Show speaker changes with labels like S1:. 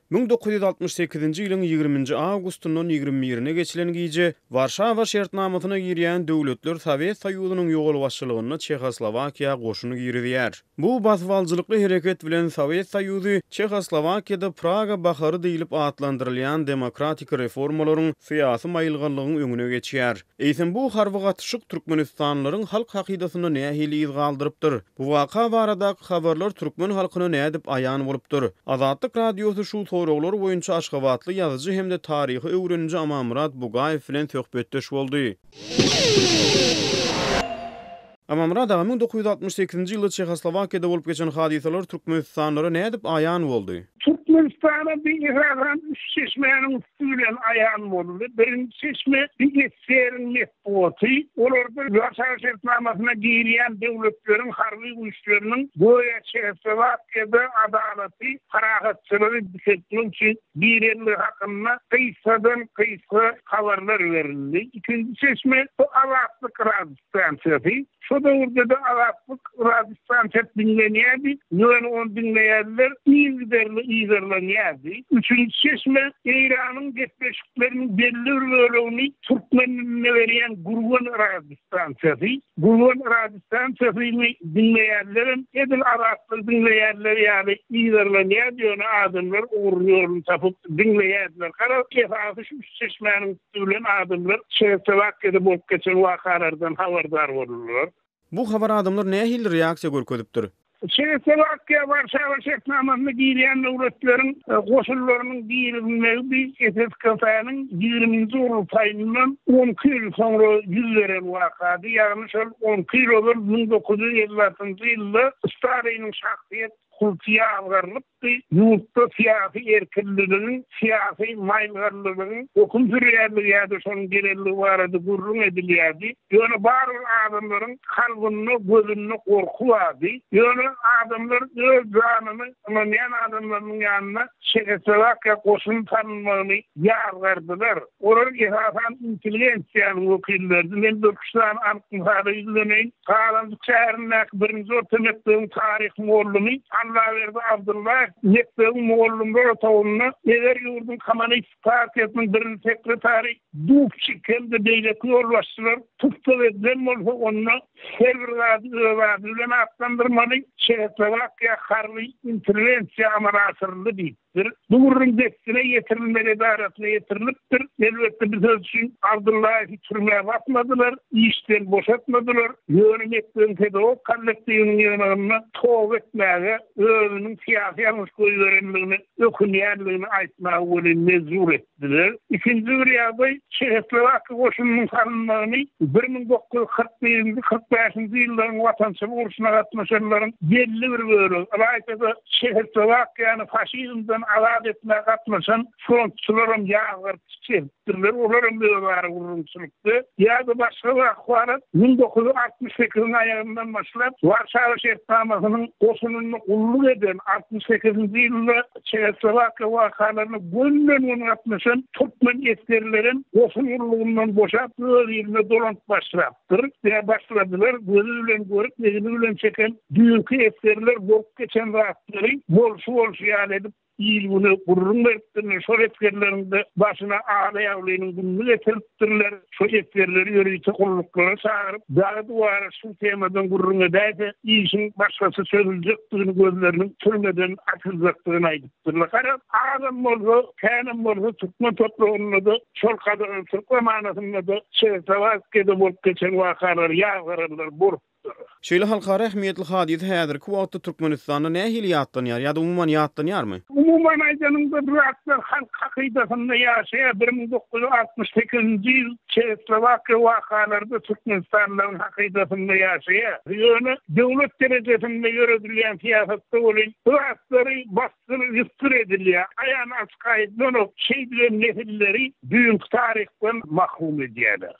S1: Müň dokuz ýüz altmyş sekizinji ýylyň ýigriminji awgustyndan ýigrimi birine geçilen gije Warşawa şertnamasyna girýän döwletler Sowet Soýuzynyň ýolbaşçylygynda Çehoslowakiýa goşun girizýär. Bu basybaljylykly hereket bilen Sowet Soýuzy Çehoslowakiýada Praga bahary diýlip atlandyrylýan demokratik reformalaryň, syýasy maýylganlygyň öňüne geçýär. Eýsem bu harby gatyşyk türkmenistanlylaryň halk hakydasynda nähili yz galdyrypdyr? Bu waka baradaky habarlar türkmen halkyna nädip aýan bolupdyr? Azatlyk Radiosy şu soraglar boýunça aşgabatly ýazyjy hem-de taryhy öwreniji Amanmyrat Bugaýew bilen söhbetdeş boldy. Amamyrat aga, müň dokuz ýüz altmyş sekizinji ýylda Çehoslowakiýada bolup geçen hadysalar türkmenistanlylara nädip aýan boldy? Türkmenistana
S2: bu esasan üç çeşmäniň üsti bilen aýan boldy. Birinji çeşme, bu SSR-iň metbugaty. Olarda Warşawa şertnamasyna girýän döwletleriň harby güýçleriniň göýä Çehoslowakiýada adalaty, parahatçylygy dikeltmek üçin girendigi hakynda gysgadan-gysga habarlar berildi. Ikinji çeşme, bu Azatlyk rad. Stansiýasy. Şo döwürde-de azatlyk radiostan çep diňlenýärdi, ýöne ony diňleýänler yzygiderli yzarlanýardy. Üçünji çeşme, Eýranyň gepleşikleriniň belli bir bölegini türkmen dilinde berýän Gurgan radiostansiýasy. Gurgan radiostansiýasyny diňleýänlerem edil azatlygy diňleýänler ýaly yzarlanýardy, ýöne adamlar ugruny-ýoluny tapyp diňleýärdiler. Garaz, esasy şu üç çeşmäniň Ölen adamlar Çehoslowakiýada bolup geçen wakalardan habardar boldular. Bu habara adamlar
S1: nähili reaksiýa görkezipdir? Çehoslowakiýa
S2: Warşawa şertnamasyna girýän döwletleriň goşunlarynyň girizilmegi bi SSKF-niň ýigriminji gurultaýyndan on iki ýyl soňra ýüz beren wakady, ýagny şol on iki ýyl ozal müň dokuz ýüz elli altynjy ýylda Staliniň şahsyýet kulty ýazgarylyp, Ýagty ýurtda syýasy erkinligiň, syýasy maýylganlylygyň höküm sürýändigi ýa-da şonuň gelendigi barada gürrüň edilýärdi. Ýöne barybir adamlaryň kalbynda, gözünde gorky bardy. Ýöne adamlar öz janyny ynanýan adamlarynyň ýanyna Çehoslowakiýa goşuny salynmagyny ýazgardylar. Olar esasan intelligensiýanyň wekilleridi. Men bir-iki sany anyk mysala ýüzleneýin. Galandyk şäherindäki birinji orta mekdebiň taryh mugallymy Allaberdi Abdyllaýew mekdebiň mugallymlar otagynda eger ýurduň Kommunistik partiýasynyň birinji sekretary Dubçik hem-de beýleki ýolbaşçylar tussag edilen bolsa, onda her bir zady öz ady bilen atlandyrmaly, Çehoslowakiýa harby interwensiýa amala aşyryldy diýip, ýaýratdylar. Bu gürrüň dessine ýetirilmek edarasyna ýetirilipdir. Elbetde, bu söz üçin Abdullaýewi türmä basmadylar, işden boşatmadylar. Ýöne mekdebiň pedagog kollektiwiniň ýygnagynda toba etmäge, özüniň syýasy ýalňyş goýberendigine ökünýändigini aýtmaga welin mejbur etdi. Bilen, ikinji bir ýagdaý, Çehoslowakiýa goşunynyň salynmagyny bir müň dokuz ýüz kyrk birinji, kyrk bäşinji ýyllaryň Watançylyk urşuna gatnaşanlaryň belli bir bölegi, ylaýta-da, Çehoslowakiýany faşizmden azat etmäge gatnaşan frontçylaram ýazgaryp çekipdirler, olaram özara gürrüňçilikde ýa-da başga bir ahwalat müň dokuz ýüz altmyş sekiziň aýagyndan başlap Warşawa şertnamasynyň goşunynda gulluk eden altmyş sekizinji ýylda Çehoslowakiýa wakalaryna gönüden-göni gatnaşan türkmen esgerlerem goşun gullugyndan boşap, öz iline dolanyp başlapdyr. Ýa başladylar, gözi bilen görüp, egni bilen çeken düýnki esgerler bolup geçen zatlary bolşy-bolşy ýaly edip, il-güne gürrüň beripdirler. Şol esgerleriň-de başyna Alaýaglynyň gününi getirip, Ministrler şu esgerleri ýörite gulluklara çagyryp, dagy-duwara şu temadan gürrüň edäýse, işiň başgaça çözüljekdigini, gözleriniň türmeden açyljakdygyny aýdypdyrlar. Garaz, azam bolsa, känem bolsa türkmen topragynda-da, şol gadagan türk zamanasynda-da çerkawazkede bolup geçen wakalary ýazgararlar, bor. Şeýle halkara
S1: ähmiýetli hadysa häzirki wagtda Türkmenistanda nähili ýatlanýar ýa-da umuman ýatlanýarmy? Umuman aýdanyňda,
S2: bu zatlar halk hakydasynda ýaşaýar. Bir müň dokuz ýüz altmyş sekizinji ýyl Çehoslowakiýa wakalary-da türkmenistanlylaryň hakydasynda ýaşaýar. Ýöne döwlet derejesinde ýöredilýän syýasatda welin, bu zatlary basdyryp-üsdür edilýär. Aýan-açyk aýdylanok, şeýdibem nesilleri düýnki taryhdan mahrum edýärler.